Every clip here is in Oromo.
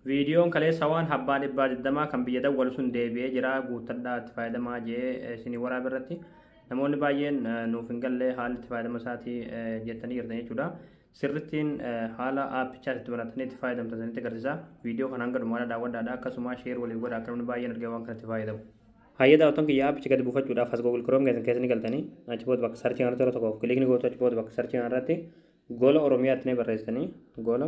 Viidiyoon kaleessa waan habbaa dhibbaa digdamaa kan biyya dawwalu sun deebi'ee jira guuttadhaa itti fayyadamaa jee isinii waraaba irratti namoonni baay'een nuuf hin galle haalli itti fayyadama isaatii jettanii jirtan jechuudha. Sirrittiin haala aappichaas itti banattanii itti fayyadamtan isinitti agarsiisa. Viidiyoo kana hanga dhumaadhaa daawwadhaadha akkasumas sheer waliif godha akka namni baay'een argee waan kanatti fayyadamu. Hayyee daawwattoon kiyya aappicha gadi buufachuudhaaf as Google Chrome keessan keessa ni galtanii achi booda bakka sarchii kanarratti yeroo tokkoof kilikni gootu achi booda bakka sarchii kanarratti gola Oromiyaatti ni barreessitanii gola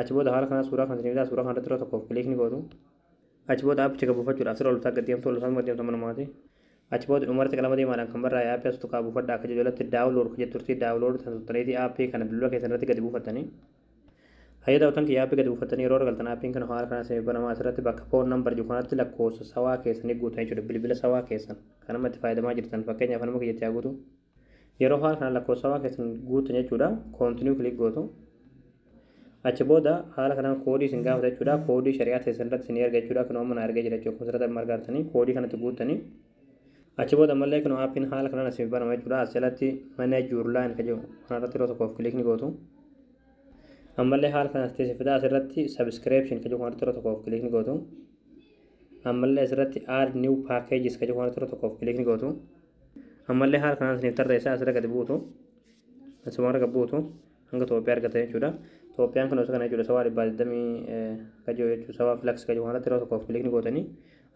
Achi booda haala kanaan suuraa kan isinii bitaa suuraa kanarratti yeroo tokkoof kiliik ni gootu. Achi booda aappicha gad buufachuudhaaf sirra oltaa gad deemtu oltaas gad deemtu amma dhumaati. Achi booda dhumarratti qalama diimaadhaan kan barraa'e aappii as tuqaa buufadha akka jedhu jalatti daawunlood kan jettu turtii daawunlood tan tuttaniiti aappii kana bilbila keessan irratti gadi buufattanii. Hayya daawwattoon kiyya aappii gadi buufattanii yeroo irra galtan aappiin kana haala kanaan isinii banamaa asirratti bakka phone number jiru kanatti lakkoofsa sawaa keessanii guutan jechuudha bilbila sawaa keessan kan amma itti fayyadamaa jirtan fakkeenyaaf anuma kiyyatti haa guutu. Yeroo haala kanaan lakkoofsawaa keessan guuttan jechuudha. Continue click gootu. Achi booda haala kanaan koodii isin gaafata jechuudha. Koodii shari'aa teessan irratti isin erga jechuudha. Kunoo amma na ergee jira jechuudha. Kunsirata marga artanii koodii kanatti guuttanii. Achi booda ammallee kunoo aappiin haala kanaan isin banama jechuudha. As jalatti manage your line kan jedhu kanarratti yeroo tokkoof click ni gootu. Ammallee haala kanaan isin fida asirratti subscription kan jedhu kanarratti yeroo tokkoof click ni gootu. Ammallee asirratti add new packages kan jedhu kanarratti yeroo tokkoof click ni gootu. ammallee haala kanaan isiniif tarreessaa asirra gadi buutu asuma arga buutu hanga Itoophiyaa argata jechuudha. Itoophiyaan kun osoo kana jechuudha sawaa dhibbaa digdamii kajoo jechuudha sawaa filaksi kajoo kanarratti yeroo tokkoof kilikni gootanii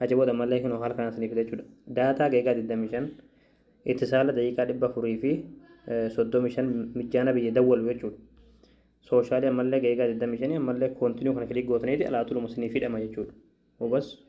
achi booda ammallee kun haala kanaan isiniif jechuudha. Daataa geegaa digdamii shan itti saala daqiiqaa dhibba afurii fi soddomii shan mijjaana biyya dawwalu jechuudha. Sooshaalii ammallee geegaa digdamii shanii ammallee koontinuu kana kilik gootaniiti alaa tuluma isiniif hidhama jechuudha. Hubas